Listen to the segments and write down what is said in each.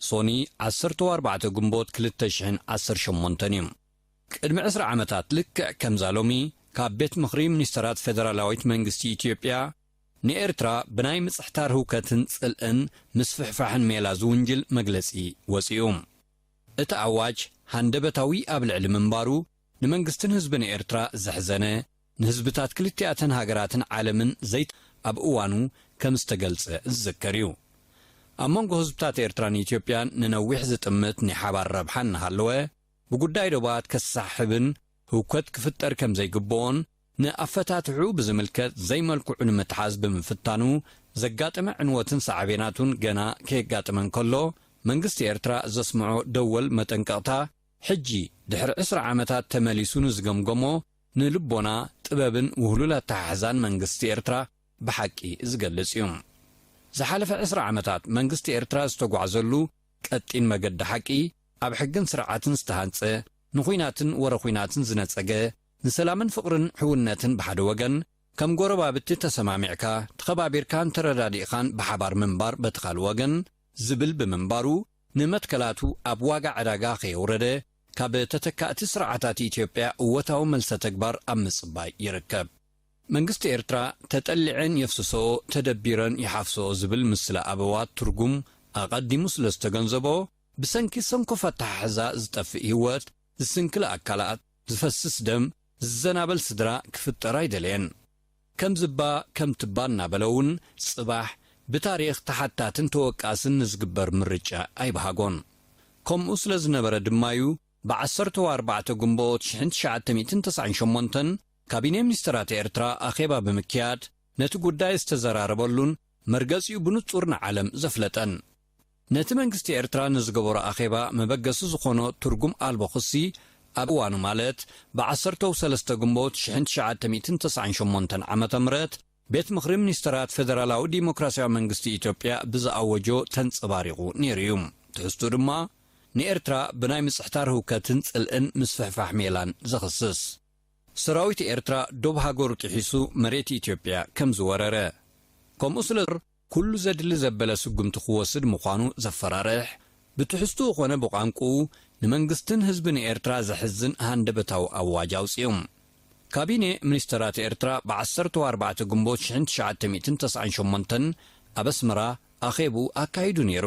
ሶኒ ዓሰርተው ኣርባዕተ ግንቦት ክልተ ሽሕን ዓሰርተ ሸሞንተን እዩ። ቅድሚ ዕስራ ዓመታት ልክዕ ከምዛ ሎሚ ካብ ቤት ምኽሪ ሚኒስተራት ፌደራላዊት መንግስቲ ኢትዮጵያ ንኤርትራ ብናይ ምጽሕታር ህውከትን ጽልእን ምስፍሕፋሕን ሜላ ዝውንጅል መግለጺ ወጺኡ። እቲ ኣዋጅ ሃንደበታዊ ኣብ ልዕሊ ምንባሩ ንመንግስትን ህዝብን ኤርትራ ዘሕዘነ፣ ንህዝብታት ክልቲኣተን ሃገራትን ዓለምን ዘይተ ኣብ እዋኑ ከም ዝተገልጸ ዝዝከር እዩ። ኣብ መንጎ ህዝብታት ኤርትራን ኢትዮጵያን ንነዊሕ ዝጥምት ናይ ሓባር ረብሓ እናሃለወ፣ ብጉዳይ ዶባት ከሰሓሕብን ህውከት ክፍጠር ከም ዘይግበኦን ንኣፈታትሕኡ ብዝምልከት ዘይመልክዑ ንምትሓዝ ብምፍታኑ ዘጋጠመ ዕንወትን ሳዕቤናቱን ገና ከየጋጠመ እንከሎ መንግስቲ ኤርትራ ዘስምዖ ደወል መጠንቀቕታ ሕጂ ድሕሪ ዕስራ ዓመታት ተመሊሱ ንዝገምገሞ ንልቦና፣ ጥበብን ውህሉል ኣተሓሕዛን መንግስቲ ኤርትራ ብሓቂ ዝገልጽ እዩ። ዝሓለፈ ዕስራ ዓመታት መንግስቲ ኤርትራ ዝተጓዕዘሉ ቀጢን መገዲ ሓቂ፣ ኣብ ሕግን ስርዓትን ዝተሃንጸ፣ ንኩናትን ወረ ኩናትን ዝነጸገ፣ ንሰላምን ፍቕርን ሕውነትን ብሓደ ወገን፣ ከም ጎረባብቲ ተሰማሚዕካ፣ ተኸባቢርካን ተረዳዲእኻን ብሓባር ምንባር በቲ ካልእ ወገን፣ ዝብል ብምንባሩ፣ ንመትከላቱ ኣብ ዋጋ ዕዳጋ ከየውረደ ካብ ተተካእቲ ስርዓታት ኢትዮጵያ እወታዊ መልሰተግባር ኣብ ምጽባይ ይርከብ። መንግስቲ ኤርትራ ተጠሊዐን የፍስሰኦ ተደቢረን ይሓፍሰኦ ዝብል ምስላ ኣበዋት ትርጉም ኣቐዲሙ ስለ ዝተገንዘቦ፣ ብሰንኪ ሰንኮፍ ኣተሓሕዛ ዝጠፍእ ህይወት፣ ዝስንክል ኣካላት፣ ዝፈስስ ደም፣ ዝዘናበል ስድራ ክፍጠር ኣይደለየን። ከምዚ'ባ ከምቲ'ባ እናበለ'ውን ጽባሕ ብታሪኽ ተሓታትን ተወቃስን ንዝግበር ምርጫ ኣይበሃጎን። ከምኡ ስለ ዝነበረ ድማ'ዩ ብዓሰርተ ወኣርባዕተ ግንቦት ሽሕን ትሽዓተ ሚእትን ተስዓን ሸሞንተን ካቢኔ ሚኒስተራት ኤርትራ ኣኼባ ብምክያድ ነቲ ጉዳይ ዝተዘራረበሉን መርገጺኡ ብንጹር ንዓለም ዘፍለጠን። ነቲ መንግስቲ ኤርትራ ንዝገበሮ ኣኼባ መበገሲ ዝኾኖ ትርጉም ኣልቦ ክሲ ኣብ እዋኑ ማለት ብዓሰርተው ሰለስተ ግንቦት ሽሕን ትሽዓተ ሚእትን ተስዓን ሸሞንተን ዓመተ ምህረት ቤት ምኽሪ ሚኒስተራት ፈደራላዊ ዲሞክራሲያዊ መንግስቲ ኢትዮጵያ ብዝኣወጆ ተንጸባሪቑ ነይሩ እዩ። ትሕዝትኡ ድማ ንኤርትራ ብናይ ምጽሕታር ህውከትን ጽልእን ምስፍሕፋሕ ሜላን ዘኽስስ። ሰራዊት ኤርትራ ዶብ ሃገሩ ጥሒሱ መሬት ኢትዮጵያ ከምዝወረረ ከምኡ ስለ። ኩሉ ዘድሊ ዘበለ ስጉምቲ ክወስድ ምዃኑ ዘፈራርሕ፣ ብትሕዝትኡ ኮነ ብቋንቁኡ ንመንግስትን ህዝብን ኤርትራ ዘሕዝን ሃንደበታዊ ኣዋጅ ኣውጺኡ። ካቢኔ ሚኒስተራት ኤርትራ ብዓሰርተው ኣርባዕተ ግንቦት ሽሕን ትሽዓተ ሚእትን ተስዓን ሸሞንተን ኣብ ኣስመራ ኣኼብኡ ኣካይዱ ነይሩ።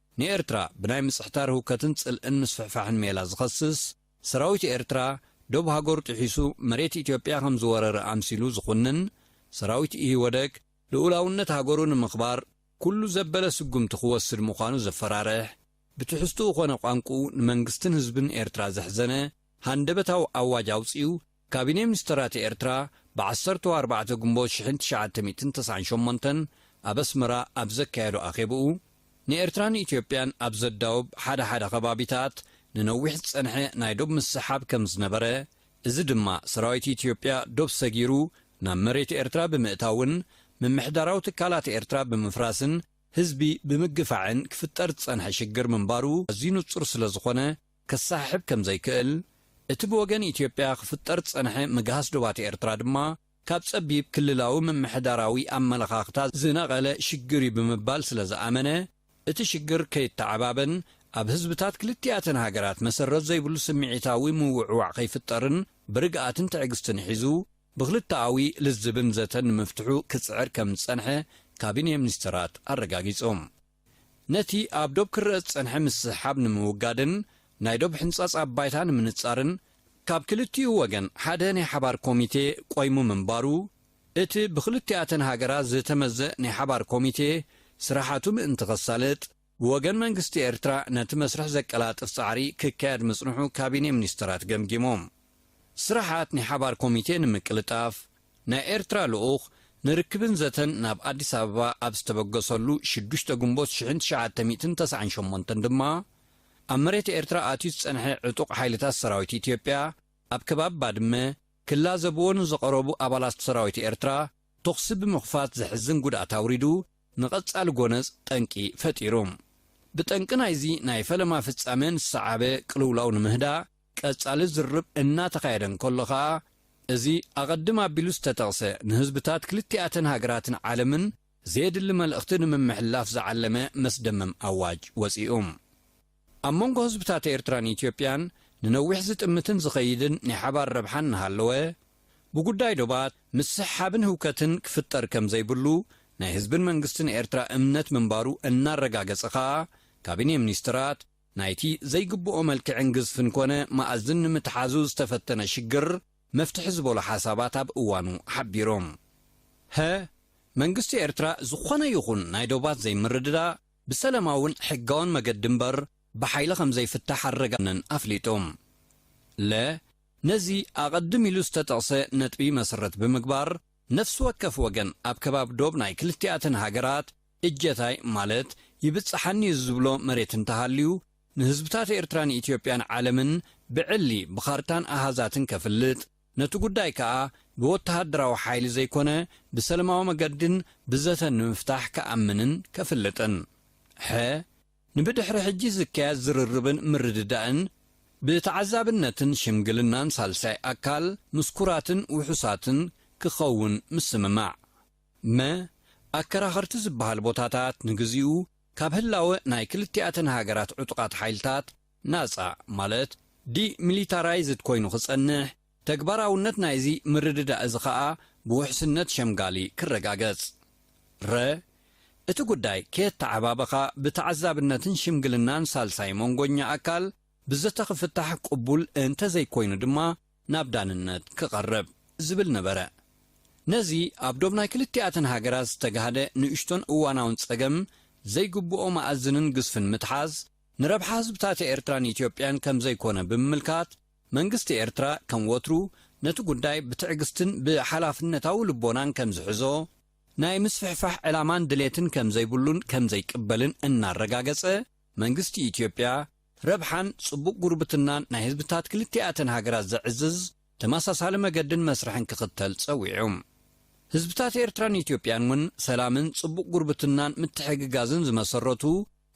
ንኤርትራ ብናይ ምጽሕታር ህውከትን ጽልእን ምስፍሕፋሕን ሜላ ዝኸስስ፣ ሰራዊት ኤርትራ ዶብ ሃገሩ ጥሒሱ መሬት ኢትዮጵያ ከም ዝወረረ ኣምሲሉ ዝኹንን፣ ሰራዊት ኢህወደግ ልኡላውነት ሃገሩ ንምኽባር ኩሉ ዘበለ ስጉምቲ ክወስድ ምዃኑ ዘፈራርሕ፣ ብትሕዝትኡ ኮነ ቋንቁኡ ንመንግስትን ህዝብን ኤርትራ ዘሕዘነ ሃንደበታዊ ኣዋጅ ኣውጺኡ ካቢኔ ሚኒስተራት ኤርትራ ብዓሰርተው ኣርባዕተ ግንቦት ሽሕን ትሽዓተ ሚእትን ተስዓን ሸሞንተን ኣብ ኣስመራ ኣብ ዘካየዶ ኣኼብኡ፣ ንኤርትራን ኢትዮጵያን ኣብ ዘዳውብ ሓደ ሓደ ከባቢታት ንነዊሕ ዝጸንሐ ናይ ዶብ ምስሕሓብ ከም ዝነበረ፣ እዚ ድማ ሰራዊት ኢትዮጵያ ዶብ ሰጊሩ ናብ መሬት ኤርትራ ብምእታውን ምምሕዳራዊ ትካላት ኤርትራ ብምፍራስን ህዝቢ ብምግፋዕን ክፍጠር ዝጸንሐ ሽግር ምንባሩ ኣዝዩ ንጹር ስለ ዝኾነ፣ ክሰሓሕብ ከም ዘይክእል፣ እቲ ብወገን ኢትዮጵያ ክፍጠር ዝጸንሐ ምግሃስ ዶባት ኤርትራ ድማ ካብ ጸቢብ ክልላዊ ምምሕዳራዊ ኣመለኻኽታ ዝነቐለ ሽግር'ዩ ብምባል ስለ ዝኣመነ፣ እቲ ሽግር ከይተዓባበን ኣብ ህዝብታት ክልቲኣተን ሃገራት መሰረት ዘይብሉ ስምዒታዊ ምውዕዋዕ ከይፍጠርን ብርግኣትን ትዕግስትን ሒዙ ብክልተኣዊ ልዝብን ዘተን ንምፍትሑ ክጽዕር ከም ዝጸንሐ ካቢኔ ሚኒስተራት ኣረጋጊጾም። ነቲ ኣብ ዶብ ክረኣ ዝጸንሐ ምስሕሓብ ንምውጋድን ናይ ዶብ ሕንጻጽ ኣብ ባይታ ንምንጻርን ካብ ክልቲኡ ወገን ሓደ ናይ ሓባር ኮሚቴ ቆይሙ ምንባሩ እቲ ብክልቲኣተን ሃገራት ዝተመዘእ ናይ ሓባር ኮሚቴ ስራሓቱ ምእንቲ ከሳልጥ ብወገን መንግስቲ ኤርትራ ነቲ መስርሕ ዘቀላጥፍ ጻዕሪ ክካየድ ምጽንሑ ካቢኔ ሚኒስተራት ገምጊሞም። ስራሓት ናይ ሓባር ኮሚቴ ንምቅልጣፍ፣ ናይ ኤርትራ ልኡኽ ንርክብን ዘተን ናብ ኣዲስ ኣበባ ኣብ ዝተበገሰሉ ሽዱሽተ ግንቦት ሽሕን ትሽዓተ ሚእትን ተስዓን ሸሞንተን ድማ፣ ኣብ መሬት ኤርትራ ኣትዩ ዝጸንሐ ዕጡቕ ሓይልታት ሰራዊት ኢትዮጵያ፣ ኣብ ከባቢ ባድመ፣ ክላዘብዎ ንዝቐረቡ ኣባላት ሰራዊት ኤርትራ ተኹሲ ብምኽፋት ዘሕዝን ጉድኣት ኣውሪዱ፣ ንቐጻሊ ጎነጽ ጠንቂ ፈጢሩ። ብጠንቂ ናይዚ ናይ ፈለማ ፍጻመ ንዝሰዓበ ቅልውላው ንምህዳእ፣ ቀጻሊ ዝርርብ እናተኻየደ እንከሎ ከኣ፣ እዚ ኣቐድም ኣቢሉ ዝተጠቕሰ ንህዝብታት ክልቲኣተን ሃገራትን ዓለምን ዘየድሊ መልእኽቲ ንምምሕልላፍ ዝዓለመ መስደመም ኣዋጅ ወጺኡ። ኣብ መንጎ ህዝብታት ኤርትራን ኢትዮጵያን ንነዊሕ ዝጥምትን ዝኸይድን ናይ ሓባር ረብሓ እናሃለወ፣ ብጉዳይ ዶባት ምስሕሓብን ህውከትን ክፍጠር ከም ዘይብሉ ናይ ህዝብን መንግስትን ኤርትራ እምነት ምንባሩ እናረጋገጸ ከኣ፣ ካቢኔ ሚኒስትራት፣ ናይቲ ዘይግብኦ መልክዕን ግዝፍን ኮነ መኣዝን ንምትሓዙ ዝተፈተነ ሽግር መፍትሒ ዝበሉ ሓሳባት ኣብ እዋኑ ሓቢሮም። ሀ። መንግስቲ ኤርትራ ዝኾነ ይኹን ናይ ዶባት ዘይምርድዳእ ብሰለማውን ሕጋውን መገዲ እምበር ብሓይሊ ከምዘይፍታሕ ኣረጋግጸን ኣፍሊጦም። ለ። ነዚ ኣቐድም ኢሉ ዝተጠቕሰ ነጥቢ መሰረት ብምግባር ነፍሲ ወከፍ ወገን ኣብ ከባቢ ዶብ ናይ ክልቲኣተን ሃገራት እጀታይ ማለት ይብጽሓኒ'ዩ ዝብሎ መሬት እንተሃልዩ፣ ንህዝብታት ኤርትራን ኢትዮጵያን ዓለምን ብዕሊ ብኻርታን ኣሃዛትን ከፍልጥ፣ ነቲ ጉዳይ ከኣ ብወተሃደራዊ ሓይሊ ዘይኮነ ብሰለማዊ መገዲን ብዘተን ንምፍታሕ ክኣምንን ከፍልጥን። ሐ፣ ንብድሕሪ ሕጂ ዝካየድ ዝርርብን ምርድዳእን ብተዓዛብነትን ሽምግልናን ሳልሳይ ኣካል፣ ምስኩራትን ውሑሳትን ክኸውን ምስምማዕ። መ፣ ኣከራኸርቲ ዝበሃል ቦታታት ንግዚኡ ካብ ህላወ ናይ ክልቲኣተን ሃገራት ዕጡቓት ሓይልታት ናጻ ማለት ዲሚሊታራይዝድ ኮይኑ ክጸንሕ፣ ተግባራውነት ናይዚ ምርድዳእ እዚ ከኣ ብውሕስነት ሸምጋሊ ክረጋገጽ። ረ፣ እቲ ጉዳይ ከየተዓባበኻ ብተዓዛብነትን ሽምግልናን ሳልሳይ መንጎኛ ኣካል ብዘተ ክፍታሕ ቅቡል እንተዘይኮይኑ ድማ ናብ ዳንነት ክቐርብ ዝብል ነበረ። ነዚ ኣብ ዶብ ናይ ክልቲኣተን ሃገራት ዝተጋህደ ንእሽቶን እዋናውን ጸገም ዘይግብኦ መኣዝንን ግዝፍን ምትሓዝ ንረብሓ ህዝብታት ኤርትራን ኢትዮጵያን ከም ዘይኮነ ብምምልካት መንግስቲ ኤርትራ ከም ወትሩ ነቲ ጉዳይ ብትዕግስትን ብሓላፍነታዊ ልቦናን ከም ዝሕዞ ናይ ምስፍሕፋሕ ዕላማን ድሌትን ከም ዘይብሉን ከም ዘይቅበልን እናረጋገጸ መንግስቲ ኢትዮጵያ ረብሓን ጽቡቕ ጉርብትናን ናይ ህዝብታት ክልቲኣተን ሃገራት ዘዕዝዝ ተመሳሳሊ መገድን መስርሕን ክኽተል ጸዊዑ። ህዝብታት ኤርትራን ኢትዮጵያን እውን ሰላምን ጽቡቕ ጉርብትናን ምትሕግጋዝን ዝመሰረቱ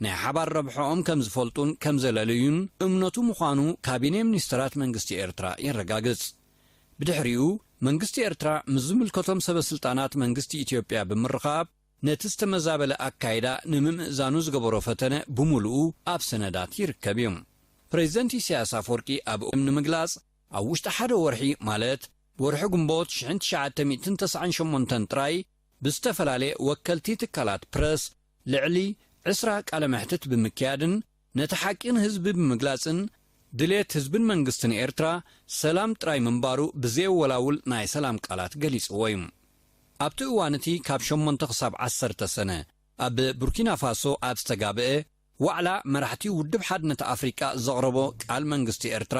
ናይ ሓባር ረብሕኦም ከምዝፈልጡን ከምዘለልዩን እምነቱ ምዃኑ ካቢኔ ሚኒስተራት መንግስቲ ኤርትራ የረጋግጽ። ብድሕሪኡ መንግስቲ ኤርትራ ምስ ዝምልከቶም ሰበስልጣናት መንግስቲ ኢትዮጵያ ብምርኻብ፣ ነቲ ዝተመዛበለ ኣካይዳ ንምምእዛኑ ዝገበሮ ፈተነ ብምሉኡ ኣብ ሰነዳት ይርከብ እዩ። ፕረዚደንት ኢሳያስ ኣፍወርቂ ኣብ እም ንምግላጽ ኣብ ውሽጢ ሓደ ወርሒ ማለት ብወርሒ ግንቦት ሽሕን ትሽዓተ ሚእትን ተስዓን ሸሞንተን ጥራይ ብዝተፈላለየ ወከልቲ ትካላት ፕረስ ልዕሊ ዕስራ ቃለ መሕትት ብምክያድን ነቲ ሓቂ ንህዝቢ ብምግላጽን ድሌት ህዝብን መንግስትን ኤርትራ ሰላም ጥራይ ምንባሩ ብዘየወላውል ናይ ሰላም ቃላት ገሊጽዎ እዩ። ኣብቲ እዋን እቲ ካብ ሸሞንተ ክሳብ ዓሰርተ ሰነ ኣብ ቡርኪናፋሶ ኣብ ዝተጋብኤ ዋዕላ መራሕቲ ውድብ ሓድነት ኣፍሪቃ ዘቕረቦ ቃል መንግስቲ ኤርትራ፣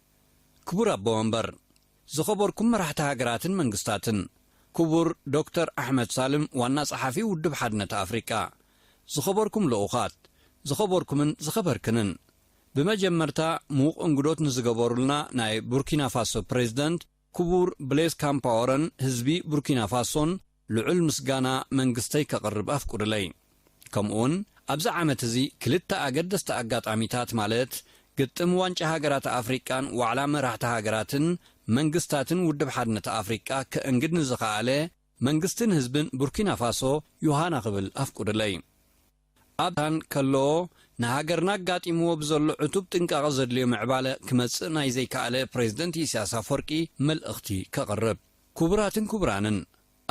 ክቡር ኣቦ ወንበር፣ ዝኸበርኩም መራሕቲ ሃገራትን መንግስታትን፣ ክቡር ዶክተር ኣሕመድ ሳልም ዋና ጸሓፊ ውድብ ሓድነት ኣፍሪቃ፣ ዝኸበርኩም ልኡኻት፣ ዝኸበርኩምን ዝኸበርክንን፣ ብመጀመርታ ምዉቕ እንግዶት ንዝገበሩልና ናይ ቡርኪናፋሶ ፕረዚደንት፣ ክቡር ብሌዝ ካምፓወረን ህዝቢ ቡርኪና ፋሶን ልዑል ምስጋና መንግስተይ ከቕርብ ኣፍቁድለይ። ከምኡውን ኣብዚ ዓመት እዚ ክልተ ኣገደስቲ ኣጋጣሚታት ማለት ግጥም ዋንጫ ሃገራት ኣፍሪቃን ዋዕላ መራሕቲ ሃገራትን መንግስታትን ውድብ ሓድነት ኣፍሪቃ ከእንግድ ንዝኸኣለ መንግስትን ህዝብን ቡርኪና ፋሶ ዮሃና ክብል ኣፍቁድለይ። ኣብ ሱዳን ከሎ ንሃገርና ኣጋጢምዎ ብዘሎ ዕቱብ ጥንቃቐ ዘድልዮ ምዕባለ ክመጽእ ናይ ዘይከኣለ ፕረዚደንት ኢሳያስ ኣፍወርቂ መልእኽቲ ከቕርብ። ክቡራትን ክቡራንን፣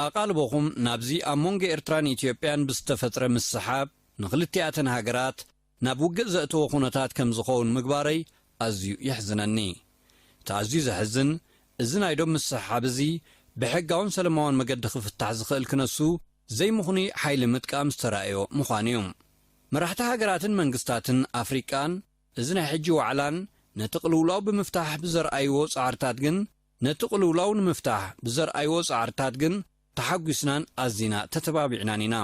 ኣቓልቦኹም ናብዚ ኣብ መንጎ ኤርትራን ኢትዮጵያን ብዝተፈጥረ ምስሕሓብ ንኽልቲኣተን ሃገራት ናብ ውግእ ዘእተወ ኩነታት ከምዝኸውን ምግባረይ ኣዝዩ የሕዝነኒ። እቲ ኣዝዩ ዘሕዝን እዚ ናይ ዶብ ምስሕሓብ እዚ ብሕጋውን ሰለማውን መገዲ ክፍታሕ ዝኽእል ክነሱ ዘይምኽኑይ ሓይሊ ምጥቃም ዝተራእዮ ምዃኑ እዩ። መራሕቲ ሃገራትን መንግስታትን ኣፍሪቃን እዚ ናይ ሕጂ ዋዕላን ነቲ ቅልውላው ብምፍታሕ ብዘርኣይዎ ጻዕርታት ግን ነቲ ቅልውላው ንምፍታሕ ብዘርኣይዎ ጻዕርታት ግን ተሓጒስናን ኣዚና ተተባቢዕናን ኢና።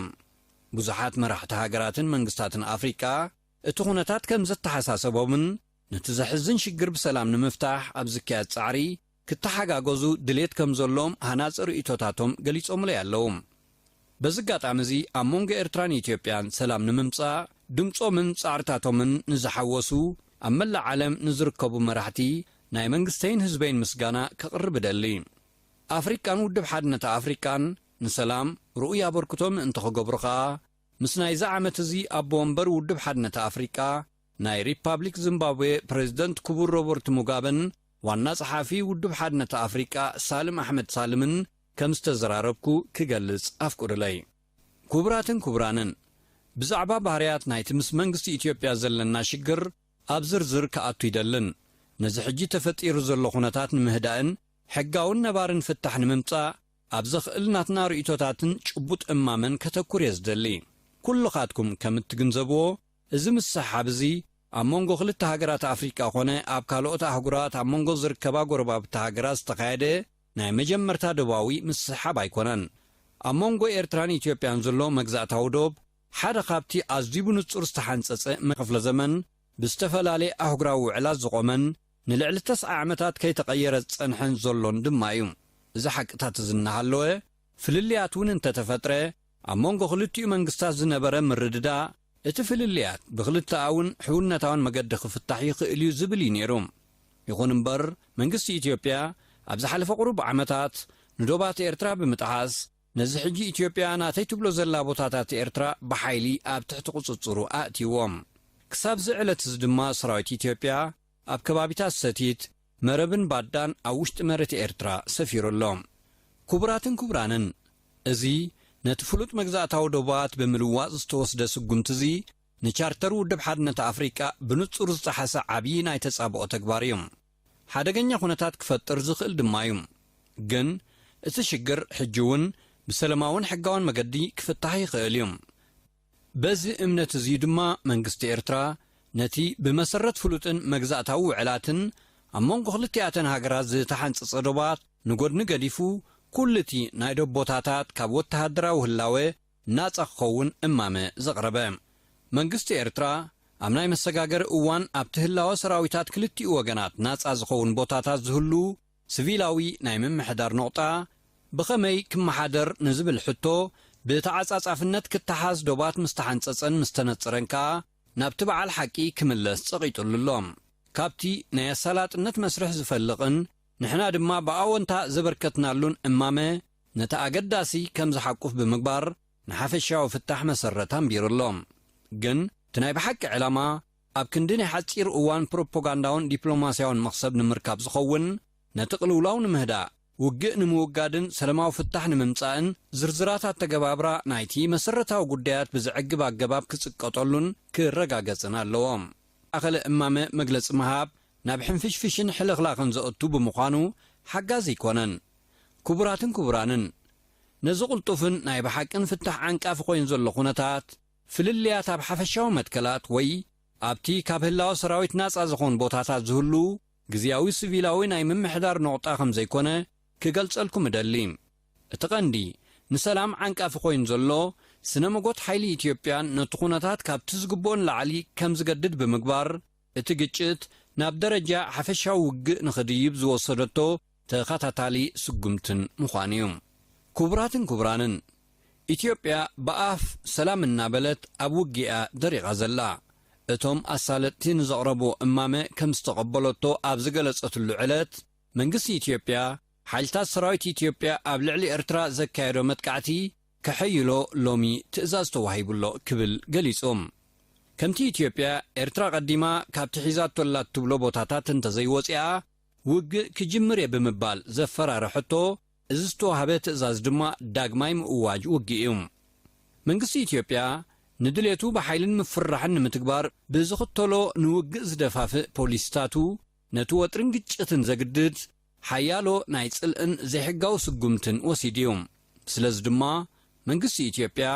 ብዙሓት መራሕቲ ሃገራትን መንግስታትን ኣፍሪቃ፣ እቲ ኩነታት ከም ዘተሓሳሰቦምን ነቲ ዘሕዝን ሽግር ብሰላም ንምፍታሕ ኣብ ዝካየድ ጻዕሪ ክተሓጋገዙ ድሌት ከም ዘሎዎም ሃናጺ ርእይቶታቶም ገሊጾምለይ ኣለዉ። በዚ ኣጋጣሚ እዚ ኣብ መንጎ ኤርትራን ኢትዮጵያን ሰላም ንምምጻእ ድምጾምን ጻዕርታቶምን ንዝሓወሱ ኣብ መላእ ዓለም ንዝርከቡ መራሕቲ ናይ መንግስተይን ህዝበይን ምስጋና ከቕርብ እደሊ። ኣፍሪቃን ውድብ ሓድነት ኣፍሪቃን ንሰላም ርኡይ ኣበርክቶ ምእንቲ ክገብሩ ከኣ ምስ ናይዚ ዓመት እዚ ኣቦ ወንበር ውድብ ሓድነት ኣፍሪቃ ናይ ሪፓብሊክ ዚምባብዌ ፕረዚደንት ክቡር ሮበርት ሙጋበን ዋና ጸሓፊ ውድብ ሓድነት ኣፍሪቃ ሳልም ኣሕመድ ሳልምን ከም ዝተዘራረብኩ ክገልጽ ኣፍቁዱለይ። ኩቡራትን ኩቡራንን ብዛዕባ ባህርያት ናይቲ ምስ መንግስቲ ኢትዮጵያ ዘለና ሽግር ኣብ ዝርዝር ክኣቱ ይደልን ነዚ ሕጂ ተፈጢሩ ዘሎ ኩነታት ንምህዳእን ሕጋውን ነባርን ፍታሕ ንምምጻእ ኣብ ዘኽእል ናትና ርእይቶታትን ጭቡጥ እማመን ከተኩር እየ ዝደሊ። ኩልኻትኩም ከም እትግንዘብዎ እዚ ምስሕሓብ እዚ ኣብ መንጎ ክልተ ሃገራት ኣፍሪቃ ኮነ ኣብ ካልኦት ኣህጉራት ኣብ መንጎ ዝርከባ ጎረባብቲ ሃገራት ዝተኻየደ ናይ መጀመርታ ዶባዊ ምስሕሓብ ኣይኮነን። ኣብ መንጎ ኤርትራን ኢትዮጵያን ዘሎ መግዛእታዊ ዶብ ሓደ ካብቲ ኣዝዩ ብንጹር ዝተሓንጸጸ መ። ክፍለ ዘመን ብዝተፈላለየ ኣህጉራዊ ውዕላት ዝቖመን፣ ንልዕሊ ተስዓ ዓመታት ከይተቐየረ ዝጸንሐን ዘሎን ድማ እዩ። እዚ ሓቅታት እዚ እናሃለወ፣ ፍልልያት እውን እንተተፈጥረ፣ ኣብ መንጎ ክልቲኡ መንግስታት ዝነበረ ምርድዳእ፣ እቲ ፍልልያት ብክልተኣውን ሕውነታውን መገዲ ክፍታሕ ይኽእል እዩ ዝብል እዩ ነይሩ። ይኹን እምበር፣ መንግስቲ ኢትዮጵያ፣ ኣብ ዝሓለፈ ቁሩብ ዓመታት፣ ንዶባት ኤርትራ ብምጥሓስ፣ ነዚ ሕጂ ኢትዮጵያ ናተይ ትብሎ ዘላ ቦታታት ኤርትራ ብሓይሊ ኣብ ትሕቲ ቁጽጽሩ ኣእትይዎም። ክሳብ'ዚ ዕለት'ዚ ድማ ሰራዊት ኢትዮጵያ ኣብ ከባቢታት ሰቲት፣ መረብን ባዳን ኣብ ውሽጢ መሬት ኤርትራ ሰፊሩ ኣሎ። ክቡራትን ክቡራንን፣ እዚ ነቲ ፍሉጥ መግዛእታዊ ዶባት ብምልዋጥ ዝተወስደ ስጉምቲ'ዚ ንቻርተር ውድብ ሓድነት ኣፍሪቃ ብንጹር ዝጠሓሰ ዓብዪ ናይ ተጻብኦ ተግባር'ዩ። ሓደገኛ ኩነታት ክፈጥር ዝኽእል ድማ እዩ። ግን እቲ ሽግር ሕጂ እውን ብሰለማውን ሕጋውን መገዲ ክፍታሕ ይኽእል እዩ። በዚ እምነት እዚ እዩ ድማ መንግስቲ ኤርትራ ነቲ ብመሰረት ፍሉጥን መግዛእታዊ ውዕላትን ኣብ መንጎ ክልቲኣተን ሃገራት ዝተሓንጸጸ ዶባት ንጎድኒ ገዲፉ ኩሉቲ ናይ ዶቦታታት ካብ ወተሃደራዊ ህላወ ናጻ ክኸውን እማመ ዘቕረበ መንግስቲ ኤርትራ፣ ኣብ ናይ መሰጋገሪ እዋን ኣብቲ ህላወ ሰራዊታት ክልቲኡ ወገናት ናጻ ዝኸውን ቦታታት ዝህሉ ስቪላዊ ናይ ምምሕዳር ነቑጣ ብኸመይ ክመሓደር ንዝብል ሕቶ ብተዓጻጻፍነት ክተሓዝ ዶባት ምስ ተሓንጸጸን ምስ ተነጸረን ከኣ ናብቲ በዓል ሓቂ ክምለስ ጸቒጡሉ ኣሎ። ካብቲ ናይ ኣሳላጥነት መስርሕ ዝፈልቕን ንሕና ድማ ብኣወንታ ዘበርከትናሉን እማመ ነቲ ኣገዳሲ ከም ዝሓቁፍ ብምግባር ንሓፈሻዊ ፍታሕ መሰረት ኣንቢሩ ኣሎ። ግን እቲ ናይ ብሓቂ ዕላማ ኣብ ክንዲ ናይ ሓጺር እዋን ፕሮፖጋንዳውን ዲፕሎማስያውን መኽሰብ ንምርካብ ዝኸውን ነቲ ቅልውላው ንምህዳእ፣ ውግእ ንምውጋድን ሰለማዊ ፍታሕ ንምምጻእን ዝርዝራት ኣተገባብራ ናይቲ መሰረታዊ ጉዳያት ብዘዕግብ ኣገባብ ክጽቀጠሉን ክረጋገጽን ኣለዎ። ኣኸለ እማመ መግለጺ ምሃብ ናብ ሕንፍሽፍሽን ሕልኽላኽን ዘእቱ ብምዃኑ ሓጋዚ ኣይኮነን። ክቡራትን ክቡራንን፣ ነዚ ቅልጡፍን ናይ ብሓቅን ፍታሕ ዓንቃፊ ኮይኑ ዘሎ ኩነታት፣ ፍልልያት ኣብ ሓፈሻዊ መትከላት ወይ ኣብቲ ካብ ህላወ ሰራዊት ናጻ ዝኾን ቦታታት ዝህሉ ግዝያዊ ስቪላዊ ናይ ምምሕዳር ነቑጣ ከም ዘይኮነ ክገልጸልኩም እደሊ። እቲ ቀንዲ ንሰላም ዓንቃፊ ኮይኑ ዘሎ፣ ስነ-መጎት ሓይሊ ኢትዮጵያን ነቲ ኩነታት ካብቲ ዝግብኦ ንላዕሊ ከም ዝገድድ ብምግባር፣ እቲ ግጭት ናብ ደረጃ ሓፈሻዊ ውግእ ንኽድይብ ዝወሰደቶ ተኸታታሊ ስጉምትን ምዃኑ እዩ። ክቡራትን ክቡራንን፣ ኢትዮጵያ ብኣፍ ሰላም እናበለት ኣብ ውግእ እያ ደሪቓ ዘላ። እቶም ኣሳለጥቲ ንዘቕረቡዎ እማመ ከም ዝተቐበለቶ ኣብ ዝገለጸትሉ ዕለት፣ መንግስቲ ኢትዮጵያ፣ ሓይልታት ሰራዊት ኢትዮጵያ ኣብ ልዕሊ ኤርትራ ዘካየዶ መጥቃዕቲ ከሐይሎ ሎሚ ትእዛዝ ተዋሂቡ ኣሎ ክብል ገሊጹ። ከምቲ ኢትዮጵያ፣ ኤርትራ ቀዲማ ካብቲ ሒዛቶ ኣላ እትብሎ ቦታታት እንተዘይወጺኣ ውግእ ክጅምር እየ ብምባል ዘፈራርሐቶ፣ እዚ ዝተዋህበ ትእዛዝ ድማ ዳግማይ ምእዋጅ ውግእ እዩ። መንግስቲ ኢትዮጵያ ንድሌቱ ብሓይልን ምፍርራሕን ንምትግባር ብዝኽተሎ ንውግእ ዝደፋፍእ ፖሊሲታቱ ነቲ ወጥሪን ግጭትን ዘግድድ፣ ሓያሎ ናይ ጽልእን ዘይሕጋዊ ስጉምትን ወሲዱ እዩ። ስለዚ ድማ መንግስቲ ኢትዮጵያ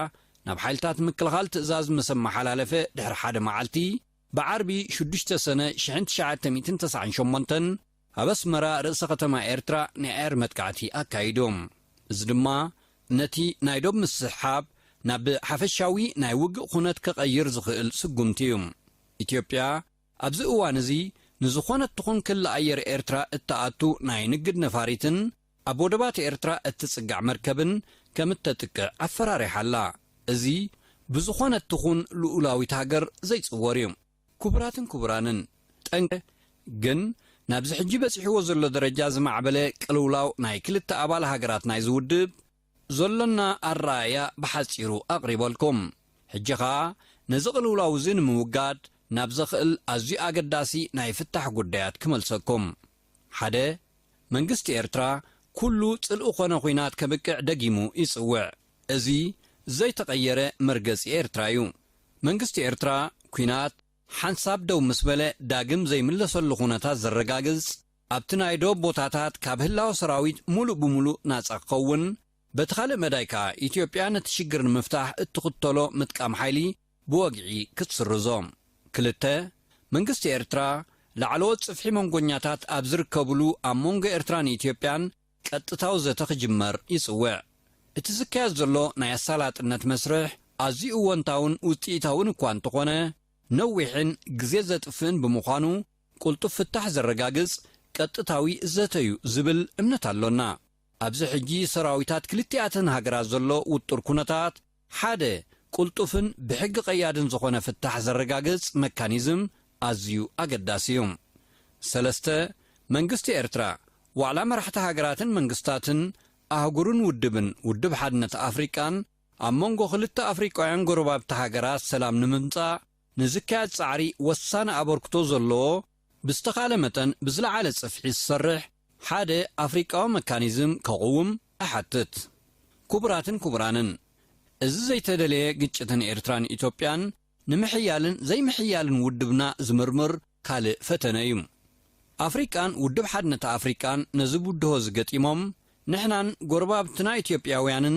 ናብ ሓይልታት ምክልኻል ትእዛዝ ምስ ኣመሓላለፈ ድሕሪ ሓደ መዓልቲ፣ ብዓርቢ ሽዱሽተ ሰነ ሽሕን ትሽዓተ ሚእትን ተሰዓን ሸሞንተን፣ ኣብ ኣስመራ ርእሰ ከተማ ኤርትራ ናይ ኣየር መጥቃዕቲ ኣካይዱ። እዚ ድማ ነቲ ናይ ዶብ ምስሕሓብ ናብ ሓፈሻዊ ናይ ውግእ ኩነት ከቐይር ዝኽእል ስጉምቲ እዩ። ኢትዮጵያ፣ ኣብዚ እዋን እዚ ንዝኾነት ትኹን ክሊ ኣየር ኤርትራ እትኣቱ ናይ ንግድ ነፋሪትን ኣብ ወደባት ኤርትራ እትጽጋዕ መርከብን ከም እተጥቅዕ ኣፈራሪሓ ኣላ። እዚ ብዝኾነት ትኹን ልኡላዊት ሃገር ዘይጽወር እዩ። ክቡራትን ክቡራንን፣ ጠንቂ ግን ናብዚ ሕጂ በጺሕዎ ዘሎ ደረጃ ዝማዕበለ ቅልውላው ናይ ክልተ ኣባል ሃገራት ናይዚ ውድብ፣ ዘሎና ኣረኣእያ ብሓጺሩ ኣቕሪበልኩም። ሕጂ ከኣ ነዚ ቅልውላው እዚ ንምውጋድ ናብ ዘኽእል ኣዝዩ ኣገዳሲ ናይ ፍታሕ ጉዳያት ክመልሰኩም። ሓደ፣ መንግስቲ ኤርትራ ኩሉ ጽልኢ ኮነ ኩናት ከብቅዕ ደጊሙ ይጽውዕ። እዚ ዘይተቐየረ መርገጺ ኤርትራ'ዩ። መንግስቲ ኤርትራ ኩናት ሓንሳብ ደው ምስ በለ ዳግም ዘይምለሰሉ ኩነታት ዘረጋግጽ፣ ኣብቲ ናይ ዶብ ቦታታት ካብ ህላወ ሰራዊት ሙሉእ ብሙሉእ ናጻ ክኸውን፣ በቲ ካልእ መዳይ ከኣ ኢትዮጵያ ነቲ ሽግር ንምፍታሕ እትኽተሎ ምጥቃም ሓይሊ ብወግዒ ክትስርዞ። ክልተ። መንግስቲ ኤርትራ፣ ላዕለዎት ጽፍሒ መንጎኛታት ኣብ ዝርከብሉ ኣብ መንጎ ኤርትራን ኢትዮጵያን ቀጥታዊ ዘተ ክጅመር ይጽውዕ። እቲ ዝካየድ ዘሎ ናይ ኣሳላጥነት መስርሕ ኣዝዩ እወንታውን ውጽኢታውን እኳ እንተኾነ፣ ነዊሕን ግዜ ዘጥፍእን ብምዃኑ፣ ቅልጡፍ ፍታሕ ዘረጋግጽ ቀጥታዊ ዘተ'ዩ ዝብል እምነት ኣሎና። ኣብዚ ሕጂ ሰራዊታት ክልቲኣተን ሃገራት ዘሎ ውጡር ኩነታት፣ ሓደ ቅልጡፍን ብሕጊ ቀያድን ዝኾነ ፍታሕ ዘረጋግጽ መካኒዝም ኣዝዩ ኣገዳሲ'ዩ። ሰለስተ፣ መንግስቲ ኤርትራ፣ ዋዕላ መራሕቲ ሃገራትን መንግስታትን ኣህጉርን ውድብን ውድብ ሓድነት ኣፍሪቃን፣ ኣብ መንጎ ክልተ ኣፍሪቃውያን ጎረባብቲ ሃገራት ሰላም ንምምጻእ፣ ንዝካየድ ጻዕሪ ወሳኒ ኣበርክቶ ዘለዎ ብዝተኻእለ መጠን ብዝለዓለ ጽፍሒ ዝሰርሕ ሓደ ኣፍሪቃዊ መካኒዝም ከቕውም እሓትት። ክቡራትን ክቡራንን፣ እዚ ዘይተደለየ ግጭት ን ኤርትራን ኢትዮጵያን ንምሕያልን ዘይምሕያልን ውድብና ዝምርምር ካልእ ፈተነ እዩ። ኣፍሪቃን ውድብ ሓድነት ኣፍሪቃን ነዚ ብድሆ እዚ ገጢሞም ንሕናን ጎረባብትና ኢትዮጵያውያንን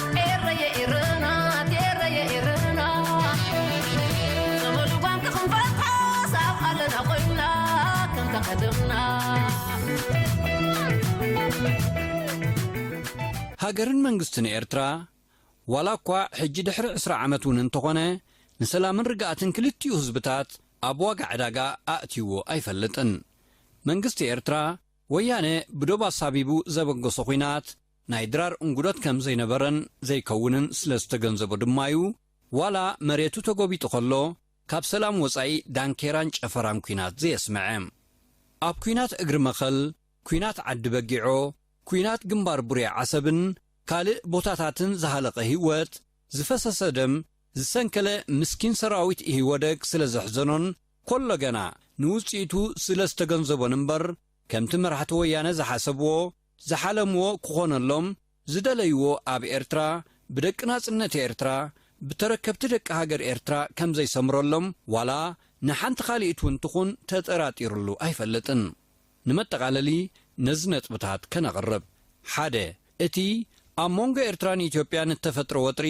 ሃገርን መንግስትን ኤርትራ ዋላ እኳ ሕጂ ድሕሪ ዕስራ ዓመት እውን እንተኾነ ንሰላምን ርግኣትን ክልቲኡ ህዝብታት ኣብ ዋጋ ዕዳጋ ኣእትይዎ ኣይፈልጥን። መንግስቲ ኤርትራ ወያነ ብዶብ ኣሳቢቡ ዘበገሶ ኹናት ናይ ድራር እንጉዶት ከም ዘይነበረን ዘይከውንን ስለ ዝተገንዘቦ ድማ'ዩ፣ ዋላ መሬቱ ተጎቢጡ ከሎ፣ ካብ ሰላም ወጻኢ ዳንኬራን ጨፈራን ኩናት ዘየስመዐ። ኣብ ኩናት እግሪ መኸል፣ ኩናት ዓዲ በጊዖ፣ ኩናት ግንባር ቡሬ ዓሰብን ካልእ ቦታታትን ዝሃለቐ ሂወት፣ ዝፈሰሰ ደም፣ ዝሰንከለ ምስኪን ሰራዊት ኢሂወደግ ስለ ዘሕዘኖን ኮሎ ገና ንውጽኢቱ ስለ ዝተገንዘቦን እምበር ከምቲ መራሕቲ ወያነ ዝሓሰብዎ፣ ዝሓለምዎ ክኾነሎም ዝደለይዎ ኣብ ኤርትራ ብደቂ ናጽነት ኤርትራ ብተረከብቲ ደቂ ሃገር ኤርትራ ከምዘይሰምረሎም ዋላ ንሓንቲ ካሊኢት ውን ትኹን ተጠራጢርሉ ኣይፈልጥን። ንመጠቓለሊ ነዚ ነጥብታት ከነቕርብ። ሓደ። እቲ ኣብ ሞንጎ ኤርትራን ኢትዮጵያን እተፈጥረ ወጥሪ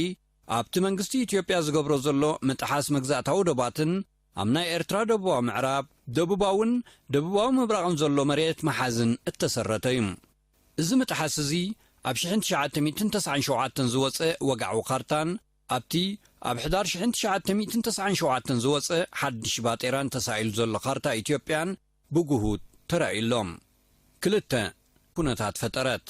ኣብቲ መንግስቲ ኢትዮጵያ ዝገብሮ ዘሎ ምጥሓስ መግዛእታዊ ዶባትን፣ ኣብ ናይ ኤርትራ ደቡባዊ ምዕራብ፣ ደቡባውን ደቡባዊ ምብራቕን ዘሎ መሬት ምሓዝን እተሰረተ እዩ። እዚ ምጥሓስ እዚ ኣብ ሽሕን ትሽዓተ ሚእትን ተስዓን ሸውዓተን ዝወጸ ወግዓዊ ካርታን ኣብቲ ኣብ ሕዳር ሽሕን ትሽዓተ ሚእትን ተስዓን ሸውዓተን ዝወጸ ሓድሽ ባጤራን ተሳኢሉ ዘሎ ካርታ ኢትዮጵያን ብግሁድ ተራእዩ ኣሎ። ክልተ። ኩነታት ፈጠረት።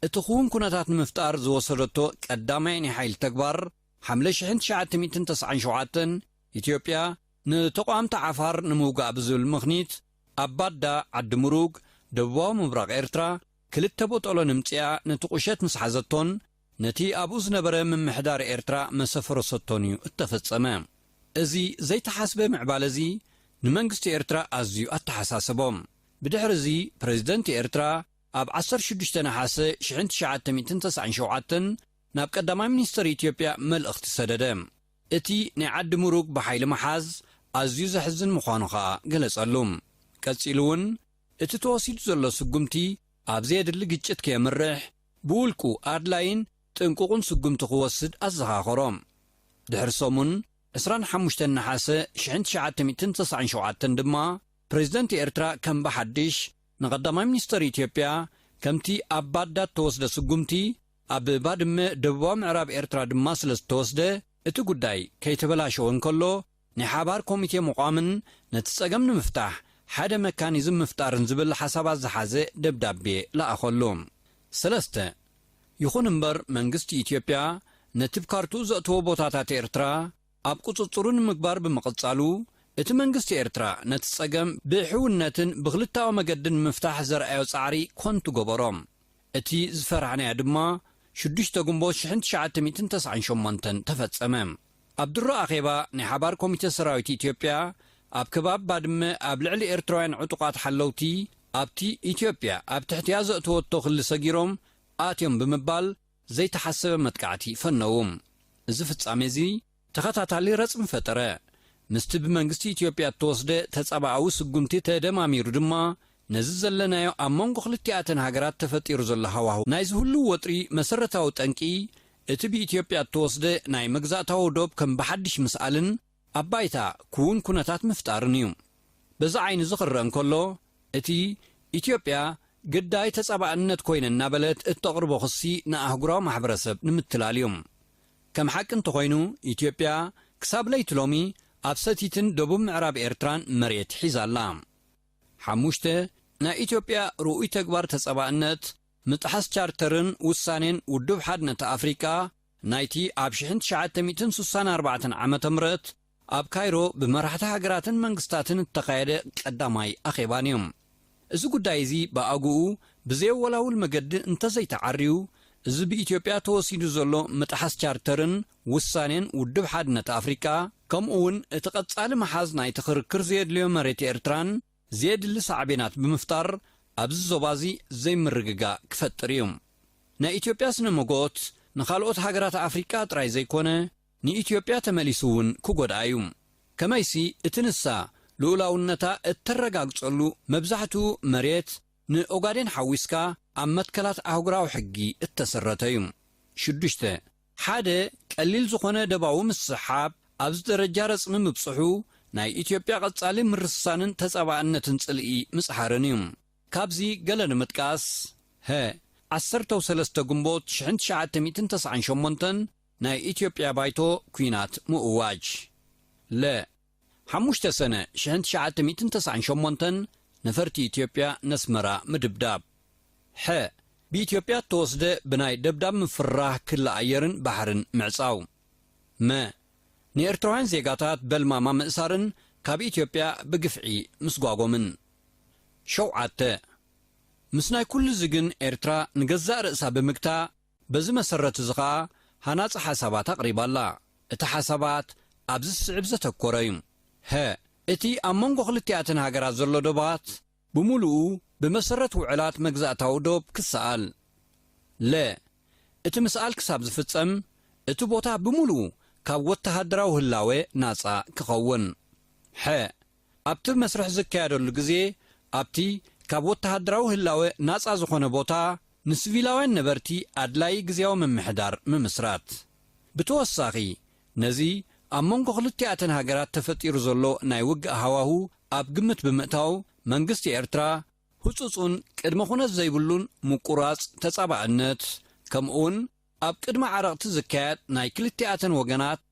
እቲ ክዉን ኩነታት ንምፍጣር ዝወሰደቶ ቀዳማይ ናይ ሓይሊ ተግባር፣ ሓምለ ሽሕን ትሽዓተ ሚእትን ተስዓን ሸውዓተን፣ ኢትዮጵያ ንተቋምቲ ዓፋር ንምውጋእ ብዝብል ምኽኒት ኣብ ባዳ ዓዲ ሙሩግ ደቡባዊ ምብራቕ ኤርትራ ክልተ ቦጦሎን እምጺኣ ነቲ ቁሸት ምስ ሓዘቶን ነቲ ኣብኡ ዝነበረ ምምሕዳር ኤርትራ መሰፈረሰቶን እዩ እተፈጸመ። እዚ ዘይተሓስበ ምዕባለ'ዚ ንመንግስቲ ኤርትራ ኣዝዩ ኣተሓሳሰቦ። ብድሕሪ'ዚ ፕረዚደንት ኤርትራ ኣብ ዓሰርተ ሽዱሽተ ነሓሰ ሽሕን ትሽዓተ ሚእትን ተስዓን ሸውዓተን ናብ ቀዳማይ ሚኒስተር ኢትዮጵያ መልእኽቲ ሰደደ። እቲ ናይ ዓዲ ምሩግ ብሓይሊ ምሓዝ ኣዝዩ ዘሕዝን ምዃኑ ከኣ ገለጸሉ። ቀጺሉ'ውን፣ እቲ ተወሲዱ ዘሎ ስጉምቲ ኣብ ዘየድሊ ግጭት ከየምርሕ ብውልቁ ኣድላይን ጥንቁቕን ስጉምቲ ክወስድ ኣዘኻኸሮ። ድሕሪ ሰሙን፣ ዕስራን ሓሙሽተን ነሓሰ ሽሕን ትሽዓተ ሚእትን ተስዓን ሸውዓተን ድማ፣ ፕረዚደንት ኤርትራ ከም ብሓድሽ ንቀዳማይ ሚኒስተር ኢትዮጵያ ከምቲ ኣብ ባዳድ ተወስደ ስጉምቲ ኣብ ባድመ ደቡባዊ ምዕራብ ኤርትራ ድማ ስለ ዝተወስደ፣ እቲ ጉዳይ ከይተበላሸወ እንከሎ፣ ናይ ሓባር ኮሚቴ ምቛምን ነቲ ጸገም ንምፍታሕ ሓደ መካኒዝም ምፍጣርን ዝብል ሓሳባት ዝሓዘ ደብዳቤ ለኣኸሉ። ሰለስተ። ይኹን እምበር መንግስቲ ኢትዮጵያ ነቲ ብ ካርትኡ ዘእተዎ ቦታታት ኤርትራ፣ ኣብ ቁጽጽሩ ንምግባር ብምቕጻሉ፣ እቲ መንግስቲ ኤርትራ ነቲ ጸገም ብሕውነትን ብክልተኣዊ መገድን ንምፍታሕ ዘርኣዮ ጻዕሪ ኮንቱ ገበሮ። እቲ ዝፈራሕናዮ ድማ ሽዱሽተ ግንቦት ሽሕን ትሽዓተ ሚእትን ተስዓን ሸሞንተን ተፈጸመ። ኣብ ድሮ ኣኼባ ናይ ሓባር ኮሚተ ሰራዊት ኢትዮጵያ ኣብ ከባቢ ባድመ ኣብ ልዕሊ ኤርትራውያን ዕጡቓት ሓለውቲ ኣብቲ ኢትዮጵያ ኣብ ትሕቲኣ ዘእተወቶ ክሊ ሰጊሮም ኣትዮም ብምባል ዘይተሓሰበ መጥቃዕቲ ፈነዉ። እዚ ፍጻሜ'ዚ ተኸታታሊ ረጽሚ ፈጠረ። ምስቲ ብመንግስቲ ኢትዮጵያ እተወስደ ተጻብኣዊ ስጉምቲ ተደማሚሩ ድማ ነዚ ዘለናዮ ኣብ መንጎ ክልቲኣተን ሃገራት ተፈጢሩ ዘሎ ሃዋሁ ናይዚ ህሉው ወጥሪ መሰረታዊ ጠንቂ እቲ ብኢትዮጵያ እተወስደ ናይ መግዛእታዊ ዶብ ከም ብሓድሽ ምስኣልን ኣብ ባይታ ክዉን ኩነታት ምፍጣርን እዩ። በዚ ዓይን'ዚ ክረኣ እንከሎ፣ እቲ ኢትዮጵያ ግዳይ ተጻባእነት ኮይነ እናበለት እተቕርቦ ክሲ ንኣህጉራዊ ማሕበረሰብ ንምትላል እዩ። ከም ሓቂ እንተኾይኑ ኢትዮጵያ ክሳብ ለይቲ ሎሚ ኣብ ሰቲትን ደቡብ ምዕራብ ኤርትራን መሬት ሒዛ ኣላ። ሓሙሽተ፣ ናይ ኢትዮጵያ ርኡይ ተግባር ተጻባእነት፣ ምጥሓስ ቻርተርን ውሳኔን ውድብ ሓድነት ኣፍሪቃ ናይቲ ኣብ ሽሕን ትሽዓተ ሚእትን ስሳን ኣርባዕተን ዓመተ ምህረት ኣብ ካይሮ ብመራሕቲ ሃገራትን መንግስታትን እተኻየደ ቀዳማይ ኣኼባን እዩ። እዚ ጉዳይ እዚ ብኣግኡ ብዘየወላውል መገዲ እንተዘይተዓርዩ፣ እዚ ብኢትዮጵያ ተወሲዱ ዘሎ ምጥሓስ ቻርተርን ውሳኔን ውድብ ሓድነት ኣፍሪቃ፣ ከምኡ'ውን እቲ ቀጻሊ ምሓዝ ናይቲ ክርክር ዘየድልዮ መሬት ኤርትራን፣ ዘየድሊ ሳዕቤናት ብምፍጣር ኣብዚ ዞባ'ዚ ዘይምርግጋእ ክፈጥር እዩ። ናይ ኢትዮጵያ ስነ-መጎት ንኻልኦት ሃገራት ኣፍሪቃ ጥራይ ዘይኮነ ንኢትዮጵያ ተመሊሱ እውን ክጎድኣ እዩ። ከመይሲ እቲ ንሳ ልኡላውነታ እተረጋግጸሉ መብዛሕትኡ መሬት ንኦጋዴን ሓዊስካ ኣብ መትከላት ኣህጉራዊ ሕጊ እተሰረተ እዩ። ሽዱሽተ። ሓደ ቀሊል ዝኾነ ደባዊ ምስሕሓብ ኣብዚ ደረጃ ረጽሚ ምብጽሑ ናይ ኢትዮጵያ ቀጻሊ ምርስሳንን ተጻባእነትን ጽልኢ ምጽሓርን እዩ። ካብዚ ገለ ንምጥቃስ፣ ሀ ዓሰርተው ሰለስተ ግንቦት ሽሕን ትሽዓተ ሚእትን ተስዓን ሸሞንተን ናይ ኢትዮጵያ ባይቶ ኩናት ምእዋጅ፣ ለ። ሓሙሽተ ሰነ ሽሕን ትሽዓተ ሚእትን ተስዓን ሸሞንተን ነፈርቲ ኢትዮጵያ ነስመራ ምድብዳብ። ሐ። ብኢትዮጵያ እተወስደ ብናይ ደብዳብ ምፍርራህ ክሊ ኣየርን ባሕርን ምዕጻው። መ። ንኤርትራውያን ዜጋታት በልማማ ምእሳርን ካብ ኢትዮጵያ ብግፍዒ ምስጓጎምን። ሸውዓተ። ምስ ናይ ኩሉ'ዚ ግን ኤርትራ ንገዛእ ርእሳ ብምግታእ፣ በዚ መሰረት እዚ ከኣ ሃናጺ ሓሳባት ኣቕሪባ ኣላ። እቲ ሓሳባት ኣብዚ ዝስዕብ ዘተኮረ እዩ፣ ሀ። እቲ ኣብ መንጎ ክልቲኣተን ሃገራት ዘሎ ዶባት ብምሉኡ ብመሰረት ውዕላት መግዛእታዊ ዶብ ክሰኣል፣ ለ። እቲ ምስኣል ክሳብ ዝፍጸም እቲ ቦታ ብምሉኡ ካብ ወተሃደራዊ ህላወ ናጻ ክኸውን፣ ሐ። ኣብቲ መስርሕ ዝካየደሉ ግዜ ኣብቲ ካብ ወተሃደራዊ ህላወ ናጻ ዝኾነ ቦታ ንስቪላውያን ነበርቲ ኣድላዪ ግዝያዊ ምምሕዳር ምምስራት። ብተወሳኺ ነዚ ኣብ መንጎ ክልቲኣተን ሃገራት ተፈጢሩ ዘሎ ናይ ውግእ ሃዋሁ ኣብ ግምት ብምእታው መንግስቲ ኤርትራ፣ ህጹጽን ቅድመ ኩነት ዘይብሉን ምቁራጽ ተጻባእነት ከምኡ'ውን ኣብ ቅድሚ ዓረቕቲ ዝካየድ ናይ ክልቲኣተን ወገናት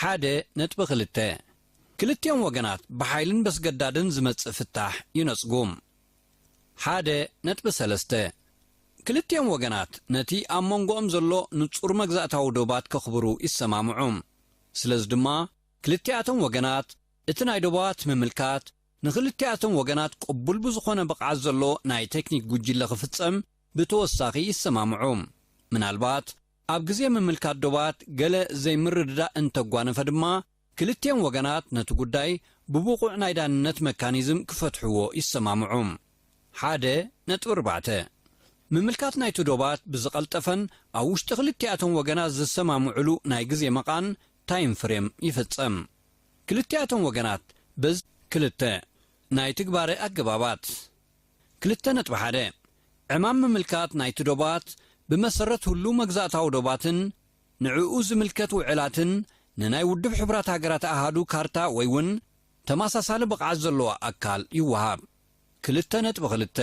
ሓደ ነጥቢ ክልተ፣ ክልቲኦም ወገናት ብሓይልን በስገዳድን ዝመጽእ ፍታሕ ይነጽጉ። ሓደ ነጥቢ ሰለስተ፣ ክልቲኦም ወገናት ነቲ ኣብ መንጎኦም ዘሎ ንጹር መግዛእታዊ ዶባት ከኽብሩ ይሰማምዑ። ስለዚ ድማ ክልቲኣቶም ወገናት እቲ ናይ ዶባት ምምልካት ንክልቲኣቶም ወገናት ቅቡል ብዝኾነ ብቕዓት ዘለዎ ናይ ቴክኒክ ጉጅለ ክፍጸም ብተወሳኺ ይሰማምዑ። ምናልባት ኣብ ግዜ ምምልካት ዶባት ገለ ዘይምርድዳእ እንተጓነፈ ድማ ክልቲኦም ወገናት ነቲ ጉዳይ ብብቑዕ ናይ ዳንነት መካኒዝም ክፈትሕዎ ይሰማምዑ። ሓደ ነጥቢ ኣርባዕተ። ምምልካት ናይቲ ዶባት ብዝቐልጠፈን ኣብ ውሽጢ ክልቲኣቶም ወገናት ዝሰማምዑሉ ናይ ግዜ መቓን፣ ታይም ፍሬም፣ ይፍጸም። ክልቲኣቶም ወገናት በዚ። ክልተ ናይ ትግባረ ኣገባባት። ክልተ ነጥቢ ሓደ ዕማም ምምልካት ናይቲ ዶባት ብመሰረት ሁሉው መግዛእታዊ ዶባትን ንዕኡ ዝምልከት ውዕላትን ንናይ ውድብ ሕቡራት ሃገራት ኣሃዱ ካርታ ወይውን ተማሳሳሊ ብቕዓት ዘለዎ ኣካል ይወሃብ። ክልተ ነጥቢ ክልተ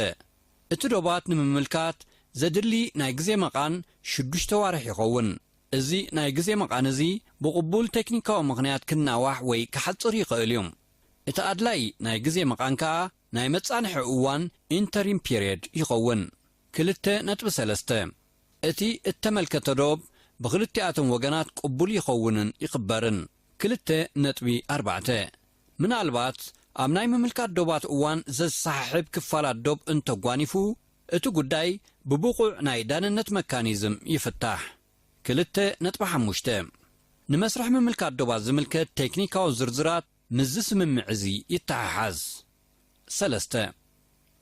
እቲ ዶባት ንምምልካት ዘድሊ ናይ ግዜ መቓን ሽዱሽተ ኣዋርሕ ይኸውን። እዚ ናይ ግዜ መቓን እዚ ብቕቡል ቴክኒካዊ ምኽንያት ክናዋሕ ወይ ክሓጽር ይኸእል እዩ። እቲ ኣድላይ ናይ ግዜ መቓን ከኣ፣ ናይ መጻንሒ እዋን፣ Interim Period፣ ይኸውን። ክልተ ነጥቢ ሰለስተ እቲ እተመልከተ ዶብ ብኽልቲኣቶም ወገናት ቅቡል ይኸውንን ይኽበርን። ክልተ ነጥቢ ኣርባዕተ ምናልባት ኣብ ናይ ምምልካት ዶባት እዋን ዘዝሰሓሕብ ክፋላት ዶብ እንተጓኒፉ፣ እቲ ጉዳይ ብብቑዕ ናይ ዳንነት መካኒዝም ይፍታሕ። ክልተ ነጥቢ ሓሙሽተ ንመስርሕ ምምልካት ዶባት ዝምልከት ቴክኒካዊ ዝርዝራት፣ ምስዚ ስምምዕ እዚ ይተሓሓዝ። ሰለስተ።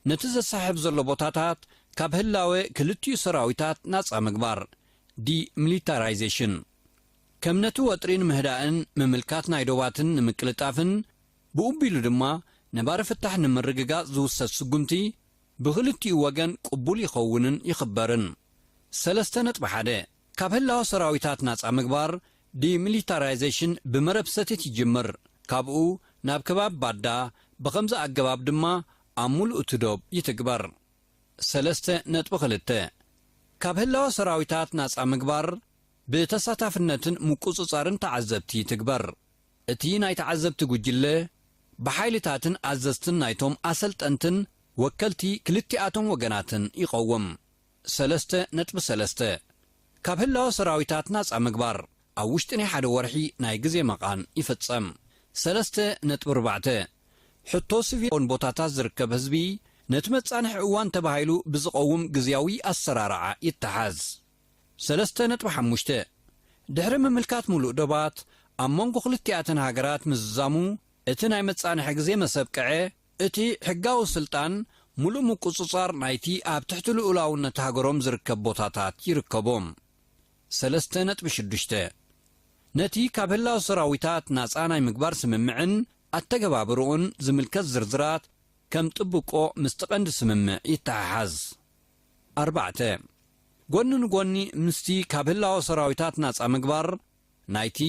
ነቲ ዘሰሓሕብ ዘሎ ቦታታት ካብ ህላወ ክልቲኡ ሰራዊታት ናጻ ምግባር፣ ዲሚሊታራይዜሽን። ከም ነቲ ወጥሪ ንምህዳእን ምምልካት ናይ ዶባትን ንምቅልጣፍን ብኡቢሉ ድማ ነባሪ ፍታሕ ንምርግጋጽ ዝውሰድ ስጉምቲ ብኽልቲኡ ወገን ቅቡል ይኸውንን ይኽበርን። ሰለስተ ነጥቢ ሓደ። ካብ ህላወ ሰራዊታት ናጻ ምግባር፣ ዲሚሊታራይዜሽን፣ ብመረብ ሰቲት ይጅምር። ካብኡ ናብ ከባቢ ባዳ፣ ብኸምዚ ኣገባብ ድማ ኣብ ሙሉእ እቲ ዶብ ይትግበር። ሰለስተ ነጥቢ ክልተ። ካብ ህላወ ሰራዊታት ናጻ ምግባር፣ ብተሳታፍነትን ምቁጽጻርን ተዓዘብቲ ይትግበር። እቲ ናይ ተዓዘብቲ ጉጅለ፣ ብሓይልታትን ኣዘዝትን ናይቶም ኣሰልጠንትን ወከልቲ ክልቲኣቶም ወገናትን ይቐውም። ሰለስተ ነጥቢ ሰለስተ፣ ካብ ህላወ ሰራዊታት ናጻ ምግባር፣ ኣብ ውሽጢ ናይ ሓደ ወርሒ ናይ ግዜ መቓን ይፍጸም። ሰለስተ ነጥቢ ኣርባዕተ፣ ሕቶ ስቪል ኦን ቦታታት ዝርከብ ህዝቢ ነቲ መጻንሒ እዋን ተባሂሉ ብዝቐውም ግዝያዊ ኣሰራርዓ ይተሓዝ። ሰለስተ ነጥቢ ሓሙሽተ፣ ድሕሪ ምምልካት ምሉእ ዶባት ኣብ መንጎ ክልቲኣተን ሃገራት ምዝዛሙ እቲ ናይ መጻንሒ ግዜ መሰብቀዐ እቲ ሕጋዊ ስልጣን ምሉእ ምቁጽጻር ናይቲ ኣብ ትሕቲ ልኡላውነት ሃገሮም ዝርከብ ቦታታት ይርከቦ። ሰለስተ ነጥቢ ሽዱሽተ። ነቲ ካብ ህላወ ሰራዊታት ናጻ ናይ ምግባር ስምምዕን ኣተገባብርኡን ዝምልከት ዝርዝራት ከም ጥብቆ ምስቲ ቀንዲ ስምምዕ ይተሓሓዝ። ኣርባዕተ። ጎኒ ንጎኒ ምስቲ ካብ ህላወ ሰራዊታት ናጻ ምግባር ናይቲ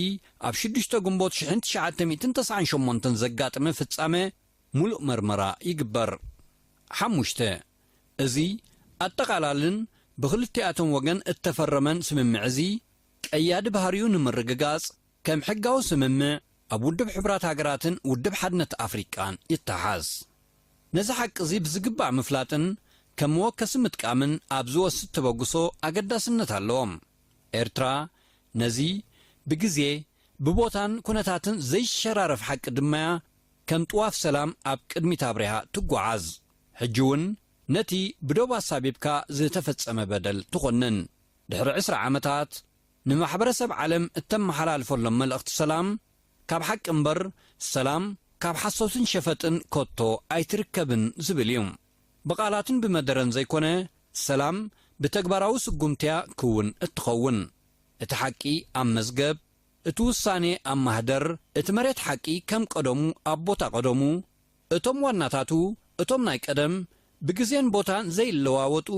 ኣብ ሽዱሽተ ግንቦት ሽሕን ትሽዓተ ሚእትን ተስዓን ሸሞንተን ዘጋጥመ ፍጻመ ምሉእ መርመራ ይግበር። ሓሙሽተ። እዚ ኣጠቓላልን ብኽልቲኣቶም ወገን እተፈረመን ስምምዕ እዚ፣ ቀያዲ ባህሪኡ ንምርግጋጽ፣ ከም ሕጋዊ ስምምዕ ኣብ ውድብ ሕቡራት ሃገራትን ውድብ ሓድነት ኣፍሪቃን ይተሓዝ። ነዚ ሓቂ እዚ ብዝግባእ ምፍላጥን ከም መወከሲ ምጥቃምን ኣብ ዝወስድ ተበግሶ ኣገዳስነት ኣለዎ። ኤርትራ ነዚ ብግዜ፣ ብቦታን ኩነታትን ዘይሸራረፍ ሓቂ ድማ'ያ ከም ጥዋፍ ሰላም ኣብ ቅድሚት ኣብሪሃ ትጓዓዝ። ሕጂ'ውን ነቲ ብዶብ ኣሳቢብካ ዝተፈጸመ በደል ትኾንን። ድሕሪ ዕስራ ዓመታት ንማሕበረሰብ ዓለም እተመሓላልፈሎም መልእኽቲ ሰላም ካብ ሓቂ እምበር ሰላም ካብ ሓሶትን ሸፈጥን ከቶ ኣይትርከብን ዝብል እዩ። ብቓላትን ብመደረን ዘይኮነ ሰላም ብተግባራዊ ስጉምቲያ ክውን እትኸውን። እቲ ሓቂ ኣብ መዝገብ፣ እቲ ውሳኔ ኣብ ማህደር፣ እቲ መሬት ሓቂ ከም ቀደሙ ኣብ ቦታ ቀደሙ፣ እቶም ዋናታቱ እቶም ናይ ቀደም ብግዜን ቦታን ዘይለዋወጡ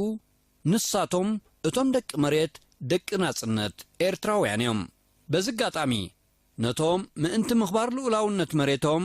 ንሳቶም እቶም ደቂ መሬት ደቂ ናጽነት ኤርትራውያን እዮም። በዚ ኣጋጣሚ ነቶም ምእንቲ ምኽባር ልኡላውነት መሬቶም